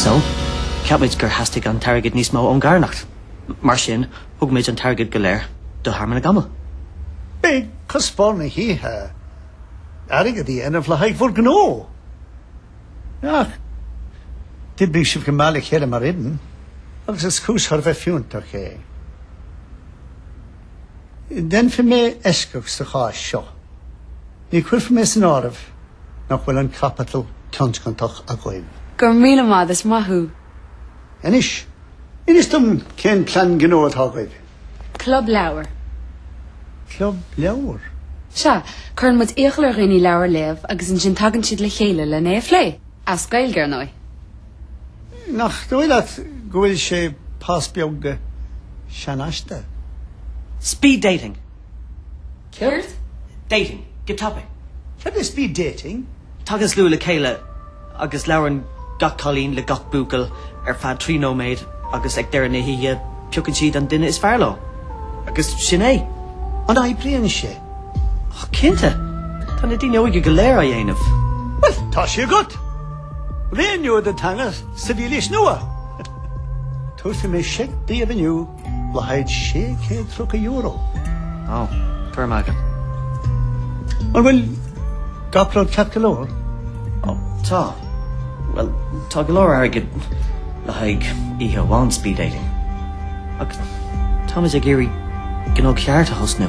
So, cheap muid gur theastaigh an t-airgead níos mó ón gcarthanacht. Mar sin, thug muid an t-airgead go léir do Thearmann na gCamall. Ba é cuspóir na hoíche airgead a dhéanamh le haghaidh bhur ngnó! Ach d'oibrigh sibh go maith le chéile mar fhoireann agus is cúis thar a bheith fiúntach é. Déanfaidh mé eisceacht sa chás seo. Ní chuirfidh mé san áireamh nach bhfuil an caipiteal tionscantach agaibh. Go raibh míle maith agat, is maith thú. Anois, inis dom cén plean gnó atá agaibh. Club leabhar. Club leabhar? Sea, cuireann muid iachall ar dhaoine leabhar a léamh agus ansin tagann siad le chéile len é a phlé, as Gaeilge ar ndóigh. Nach dóigh leat go bhfuil sé pas beag seanfhaiseanta? Speed dating! Céard? Dating. Good topic. Cad is speed dating? Tagann slua le chéile agus labhrann gach cailín le gach buachaill ar feadh trí nóiméad agus ag deireadh na hoíche piocann siad an duine is fearr leo. Agus sin é. An oibríonn sé? Oh, cinnte. Tá na daoine óige go léir á dhéanamh. Bhuel, tá sé agat! Ré nua don teanga sa mhílaois nua! Tabharfaidh mé seic daoibh inniu. Le haghaidh €630. Ó, tuairim againn. An bhfuil gach rud ceart go leor? Ó, tá. Bhuel, tá go leor airgid le haghaidh oíche amháin speed dating. Ach táimid ag iarraidh gnó ceart a thosnú.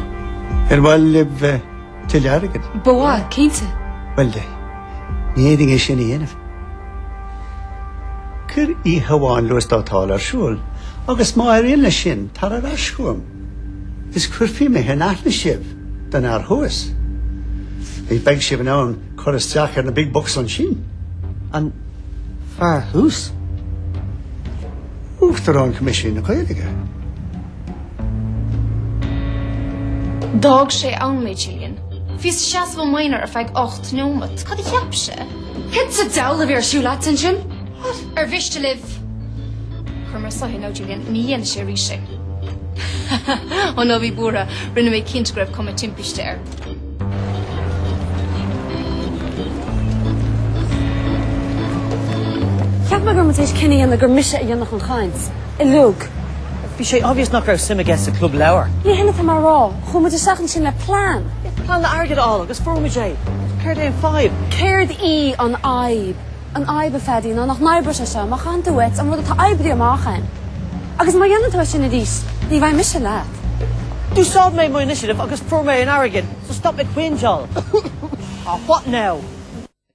Ar mhaith libh Tuilleadh airgid? Ba mhaith, cinnte. Bhuel, ní fhéadfainn é sin a dhéanamh. Cuir oíche amháin luasdátál ar siúl agus má éiríonn leis sin, tar ar ais chugam is cuirfidh mé in aithne sibh don fhear thuas. Beidh sibh in ann cur isteach ar na big bucks ansin. An fear thuas? Uachtarán Choimisiún na Gaeilge. D'fhág sé ann mé, Gillian. Bhíos ag seasamh i m'aonar ar feadh ocht neomat. Cad a cheap sé? Cad sa diabhal a bhí ar siúl agat ansin? Ar mhiste libh? Chuir mé soithigh ann, Gillian. Ní dhéanfaidh sé arís é. Ó, ná bí buartha. Rinne mé cinnte go raibh cuma timpiste air. Cheap mé go raibh muid tar éis cinneadh a dhéanamh gur mise a dhéanfadh an chaint. uilig. Bhí sé obvious nach raibh suim aige sa club leabhar. Ní hin atá mé a rá. Chuaigh muid isteach ansin le plean. Plean le hairgead a fháil agus fuair muid é. Céard é an fhadhb? Céard í an fhadhb? An fhadhb, a Phaddy, ná nach n-oibreoidh sé seo. Má chaitheann tú uait an rud atá oibrithe amach againn, agus má dhéanann tú é sin arís, ní bheidh mise leat. D'úsáid mé mo initiative agus fuair mé an airgead, so stop ag coindeáil. Aw, what now?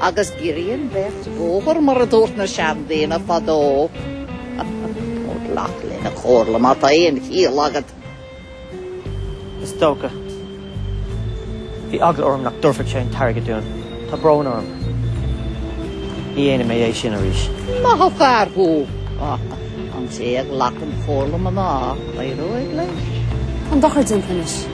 Agus giorraíonn beirt bóthar mar a dúirt na seandaoine fadó. Ó, glac lena chomhairle má tá aon chiall agat. Is dócha. Bhí eagla orm nach dtabharfadh sé an t-airgead dúinn. Tá brón orm. Ní dhéanfaidh mé é sin arís. Maith an fear thú. An té a ghlacann comhairle mná, éireoidh leis. Tá an dochar déanta anois.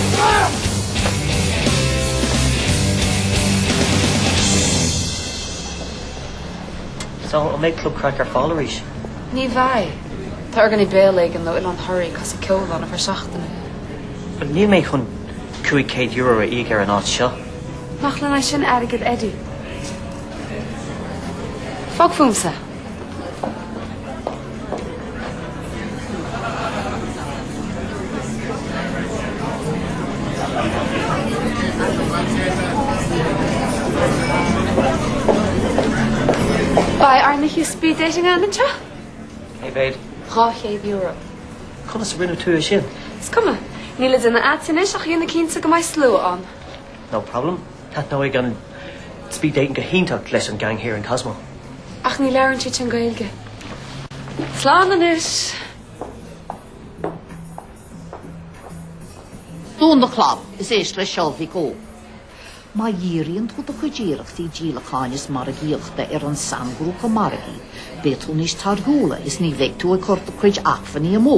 So, an mbeidh Club Craic ar fáil arís? Ní bheidh. Tá orgánaí béil éigin ó Oileán Thoraí ag casadh ceoil ann ar feadh seachtaine. Bhuel, níl mé chun €500 a íoc ar an áit seo. Nach leor é sin airgead, Eddie? Fág fúmsa! Beidh ár n-oíche speed dating againn anseo. Cé mhéad? €200. Conas a rinne tú é sin? Is cuma. Níl le déanamh agat anois ach a dhéanamh cinnte go mbeidh slua ann. No problem. Taitneoidh an Speed Dating go hiontach leis an gang thiar in Cosmo. Ach ní labhrann siad sin Gaeilge. Slán anois! Dún do chlab is éist le Seosamh Ó. Má dhíríonn tú do chuid iarrachtaí díolacháin is margaíochta ar aon sainghrúpa margaidh, beidh tú níos torthúla is ní bheidh tú ag cur do chuid acmhainní amú.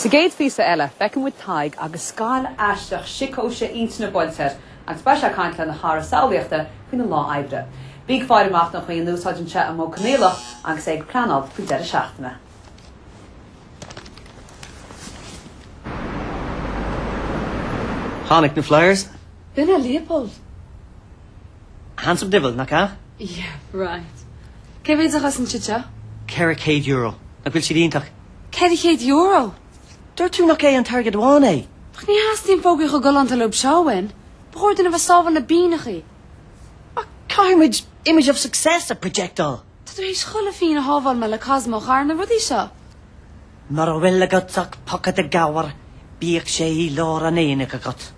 Sa gcéad phíosa eile, feiceann muid Tadhg agus scoilt aisteach síocóise intinne buailte air agus beidh sé ag caint lena chara samhlaíochta faoina lá oibre. Bí ag faire amach don chaoi a n-úsáideann sé an modh coinníollach agus é ag pleanáil faoin deireadh seachtaine. Tháinig na Flyers! Duine Leopold! Handsome diabhal, nach ea? Yeah, right. Cé mhéad a chosain siad seo? Ceithre chéad euro. Nach bhfuil siad iontach? Ceithre chéad euro! Dúirt tú nach é an t-airgead amháin é! Ach ní theastaíonn fógraí chomh galánta leo seo uainn. Ba chóir dúinn a bheith ag sábháil na bpingneachaí. Ach caithfidh muid image of success a projectál! Tá tú théis chuile phínn a shábháil muid le Cosmo a chur ar na rudaí seo. Mura bhfuil agat ach pocaide gabhair bíodh sé i lár an aonaigh agat.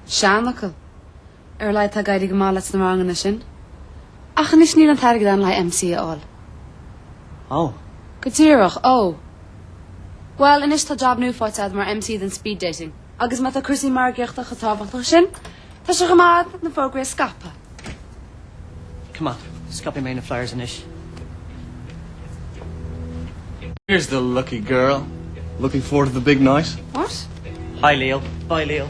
Seanfhocal. Ar a laghad tá ag éirí go maith leat sna ranganna sin. Ach anois níl an t-airgead ann le haghaidh MC a fháil. Ó. Go díreach, ó. Bhuel, anois tá jab nua faighte agat mar MC don speed dating. Agus má tá cúrsaí margaíochta chomh tábhachtach sin, Tá sé chomh maith na fógraí a scaipeadh. Coimeád. Scaipfidh mé na flyers anois. Here's the lucky girl. Looking forward to the big night. What? Hi, Leo. Bye, Leo.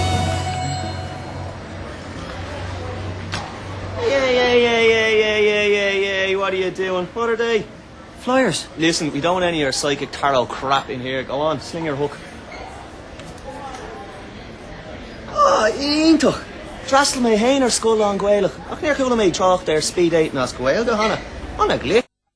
Yayayayayayayayayayayay what are you doing? What are they? Flyers! Listen, we don't want any of your psychic tarot crap in here, go on, sling your hook. Ah, iontach! D'fhreastail mé féin ar scoil lán-Gaelach ach níor chuala mé trácht ar speed-dating as Gaeilge cheana. An a ghlic!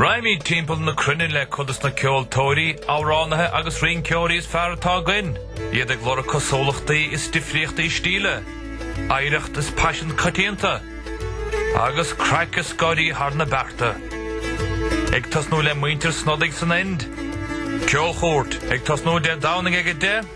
Raghaimid timpeall na cruinne le cuid dos na ceoltóirí, amhránaithe agus rinceoirí is fearr atá againn, iad ag lorg cosúlachtaí is difríochtaí stíle, oidhreacht is paisean coitianta, agus craic is gáire thar na bearta. Ag tosnú le muintir Snodaigh san Ind. Ceolchuairt, ag tosnú Dé Domhnaigh ag 10:00.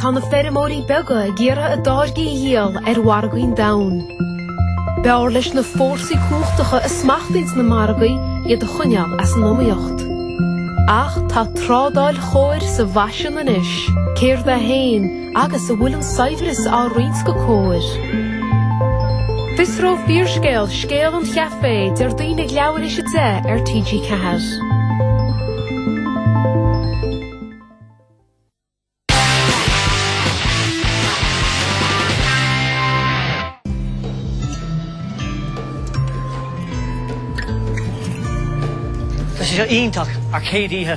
Tá na feirmeoirí beaga ag iarraidh a dtáirgí a dhíol ar mhargaí an domhain. B'fhearr le na fórsaí cumhachtacha a smachtaíonn na margaí iad a choinneáil as an iomaíocht. Ach tá trádáil chóir sa bhfaisean anois. Céard í féin? Agus an bhfuil an saibhreas á roinnt go cóir? Fiosróidh Fíorscéal scéal an chaifé Déardaoin ag leathuair th'éis a deich ar TG4. Tá sé seo iontach ár gcéad oíche.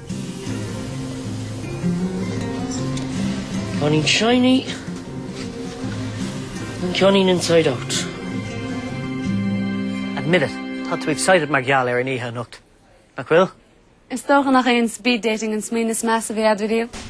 Ceannaíonn Shiny an ceannaíonn Inside Out. Admit it, tá tú excited mar gheall ar an oíche anocht, nach bhfuil? Is dócha nach é an speed dating an smaoineamh is measa a bhí a'd, bhí riamh?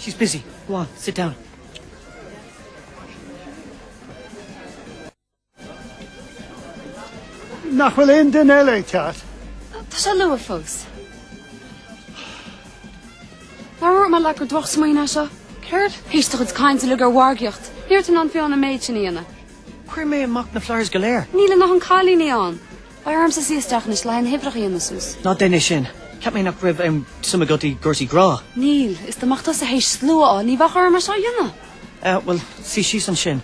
She's busy. Go on, sit down. Nach bhfuil aon duine eile ag teacht? Tá sé luath fós. Nár dhúirt mé leat gur drochsmaoineamh é seo. Céard? Th'éis do chuid cainte uilig ar mhargaíocht. Ní raibh tú in ann fiú an méid sin a dhéanamh. Chuir mé amach na flyers go léir. Níl ann ach aon chailín ann. Beidh ormsa suí isteach anois le haghaidh na huimhreacha a dhéanamh suas. Ná déan é sin. Cheap mé nach raibh aon suim agat i gcúrsaí grá. Níl. Is dá mbeadh tusa théis slua a fháil ní bheadh orm é seo a dhéanamh. Ah, bhuel, suí síos ansin.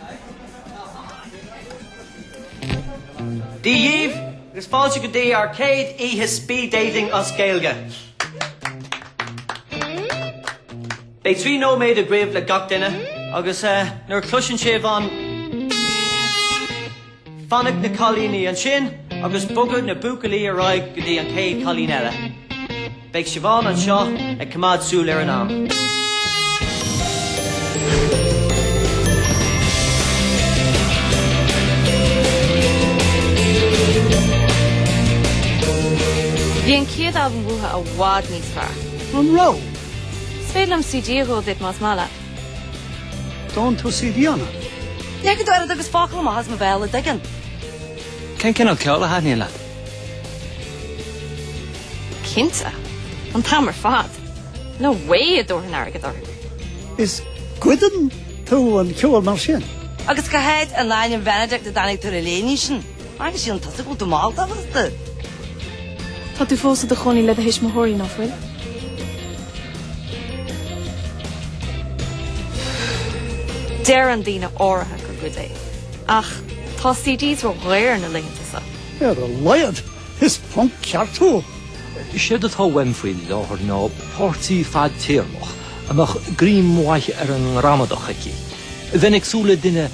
Dia dhíbh agus fáilte go dtí ár céad oíche Speed Dating as Gaeilge! Beidh trí nóiméad agaibh le gach duine agus nuair a chloiseann sibh an. Fanadh na cailíní ansin agus bogadh na buachaillí ar aghaidh go dtí an chéad cailín eile. Beidh Siobhán anseo ag coimeád súil ar an am. Bhí an chéad albam uathu i bhfad níos fearr. An raibh? Is féidir liom CD a dhó duit más maith leat. Dónn tú CDanna? Cé go deirid agus focal amach as mo bhéal a dtuigeann. Cén cineál ceoil a thaitníonn leat? Cinnte. An t-am ar fad. No way a dtabharfainn airgead orthu. Is goideann tú an ceol mar sin? Agus cá háit in ainm Bheinidict a dtáinig tú ar an léinidh sin? Agus sin an tosaigh bhfuil tú mall tábhachtachta. Tá tú fós i do chónaí le do thuismitheoirí nach bhfuil? Deireann daoine áirithe gur goid é, ach tá CDs ró dhaor na laethanta seo. Ar a laghad, is punk ceart thú! Séard atá uaim faoi láthair ná páirtí fadtéarmach a mbeadh greim mhaith ar an ngramadach aici. Bheinn ag súil le duine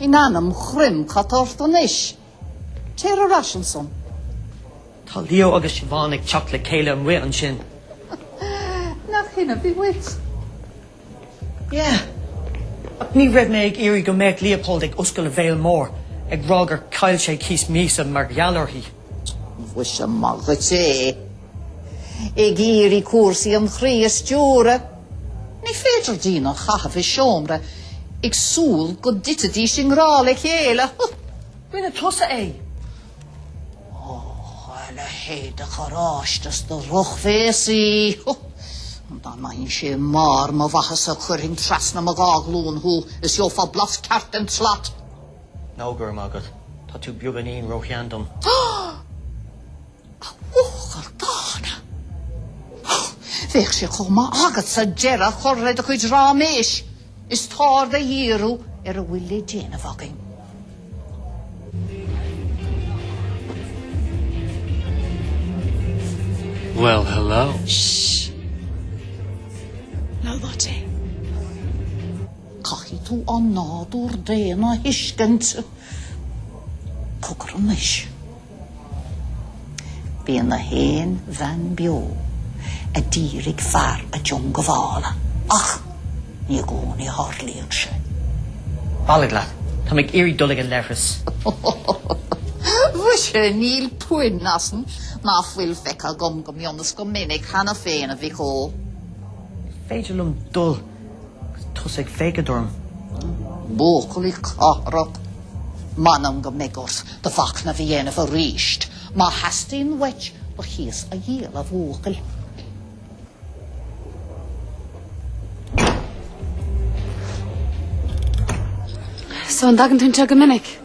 In ainm Chroim cad tá ort anois? Téir ar ais ansan. Tá Leo agus Siobhán ag teacht le chéile amuigh ansin. Nach shin a bhí uait? Yeah, ach ní raibh mé ag iarraidh go mbeadh Leopold ag oscail a bhéal mór ag rá gur chaill sé cíos míosa mar gheall uirthi. Mhuise, maith dhuit é! Ag iarraidh cúrsaí an chroí a stiúradh. Ní féidir daoine a chaitheamh i seomra ag súil go dtitfidís i ngrá le chéile. Rinne tusa é! Oh, a leithéid de choráiste is de dhrochbhéasaí! Dá mbeinnse i mbarr mo mhaitheasa chuirfinn trasna mo dhá ghlúin thú is gheofá blas ceart den tslat! No, go raibh maith agat. Tá tú beagáinín róshean dom. A bhuachaill dhána. Bheadh sé chomh maith agatsa deireadh a chur le do chuid ráiméis. Is t'aird a dhíriú ar a bhfuil le déanamh againn. Well hello. Shh! Ná loit é. Caithfidh tú an nádúr daonna a thuiscint. Cogar anois. Bíonn gach aon bhean beo a d'iarraidh fear a diongbhála ach ní i gcónaí a tharlaíonn sé. Bailigh leat, táim ag iarraidh dul ag an leithreas. Mhuise, níl puinn ansan ná fuil feicthe agam go mion is go minic cheana féin, a mhic ó. Is féidir liom dul. Tóg é, féachaint orm. Buachaillí cathrach, m'anam go mbeidh ort do mhachnamh a dhéanamh arís. Má theastaíonn uait ba chíos a dhíol, a bhuachaill. So an dtagann tú anseo go minic?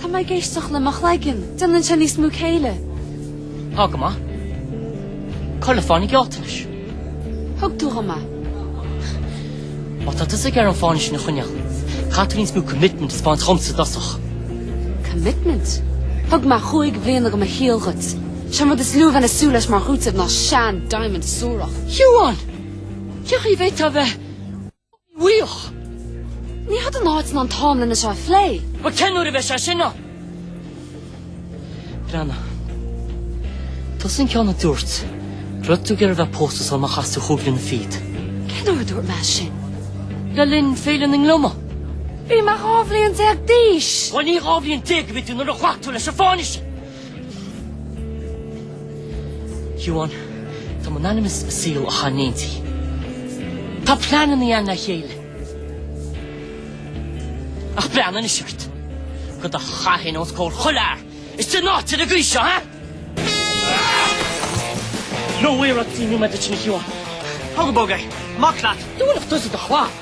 Tá mé ag éisteacht le mo chloigeann. Déanann sé níos mó céille. Tá go maith. Cur le fáinne gealltanais. Thug tú go maith. Má tá tusa ag iarraidh an fáinne sin a choinneáil, caithfidh tú níos mó commitment a thaispeáint dhomsa i dtosach. Commitment? Thug mé chúig bhliana de mo shaol dhuit. Sé an rud is lú a bheinn ag súil leis mar chúiteamh ná sean-diamond suarach. Ciarán! Cén chaoi a bhféadfá a bheith. Bhuioch! Ní hé seo an áit ná an t-am lena seo a phlé. Bhuel, cén uair a bheidh sé sin ann? Breanna, tusa an ceann a dúirt go raibh tú ag iarraidh a bheith pósta sula mbeifeá cúig bliana fichead. Cén uair a dúirt mé sin? Le linn Féile na nGliomach. Bhí mé dhá bhliain déag d'aois! Bhuel, ní dhá bhliain déag a bhí tú nuair a ghlac tú leis an bhfáinne sin! Shiobhán, Tá muid in ainm is saol a chaitheamh, Neansaí. Tá pleanannaí ann le chéile. Ach breathnaigh anois ort. Do do chaitheamh féin os comhair chuile fhear istigh in áit ar an gcaoi seo, ha? No way, Roxy, níl mé dul in, a Shiobhán. Tóg go bog é. Amach leat. Dúnadh tusa do chlab.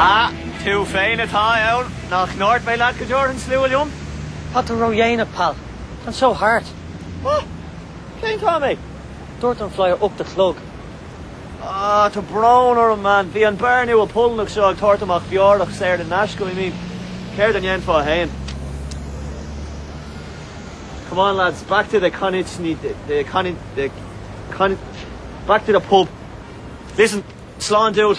Ah, tú féin atá ann. Nach ndúirt mé leat go dtabharfainn slua liom? Tá tú ródhéanach, pal. Tá an seó thart. Ah! Cén t-am é? Dúirt an flyer ocht a chlog. Ah, tá brón orm, man. Bhí an beár nua Polannach seo ag tabhairt amach beorach saor in aisce, I mean, céard a dhéanfá fhéin? Come on lads, back to the conic-ni, the conic, the conic, back to the pub. Listen, slán dude.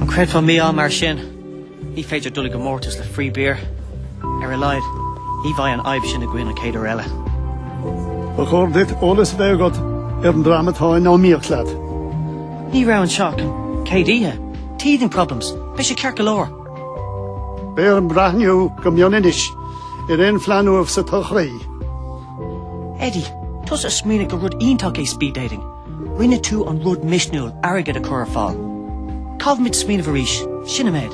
An gcreidfeá mí-ádh mar sin? Ní féidir dul i gcomórtas le free beer. Ar a laghad, ní bheidh an fhadhb sin againn an chéad uair eile. Ba chóir duit eolas a bheith agat ar an dream atá in iomaíocht leat. Ní raibh anseo ach an chéad oíche. Teething problems. Beidh sé ceart go leor. Beidh orm breathnú go mion anois ar aon phlean uaibh sa todhchaí. Eddie, tusa a smaoinigh gur rud iontach é speed dating. Rinne tú an rud misniúil airgead a chur ar fáil. Caithfimid smaoineamh arís, sin an méid.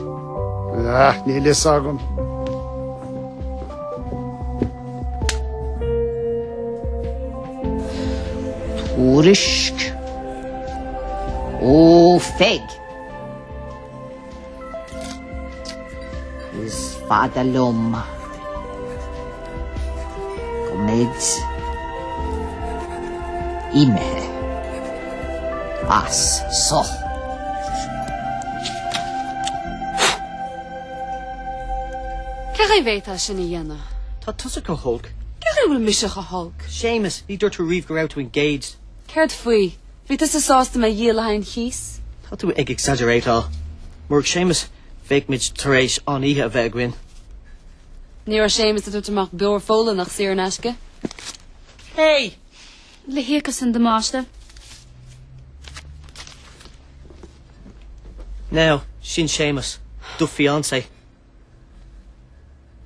Ah, níl fhios agam. Tuairisc ó Pheig. Is fada liom go mbeidh imithe as so. Cén chaoi a bhféadfá sin a dhéanamh? Tá tusa go holc. Cén chaoi a bhfuil mise go holc? Séamas, ní dúirt tú riamh go raibh tú engaged. Céard faoi? Bhí tusa sásta mé a dhíol le haghaidh an chíos. Tá tú ag exaggerateáil. Murach Séamas, bheadh muid tar éis an-oíche a bheith againn. Ní raibh Séamas ag tabhairt amach beoir Pholannach saor in aisce. Hey! Lee a íocfas an damáiste. Now, sin Séamas, do fiancé.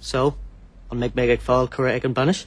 So, an mbeidh mé ag fáil cuireadh ag an mbainis?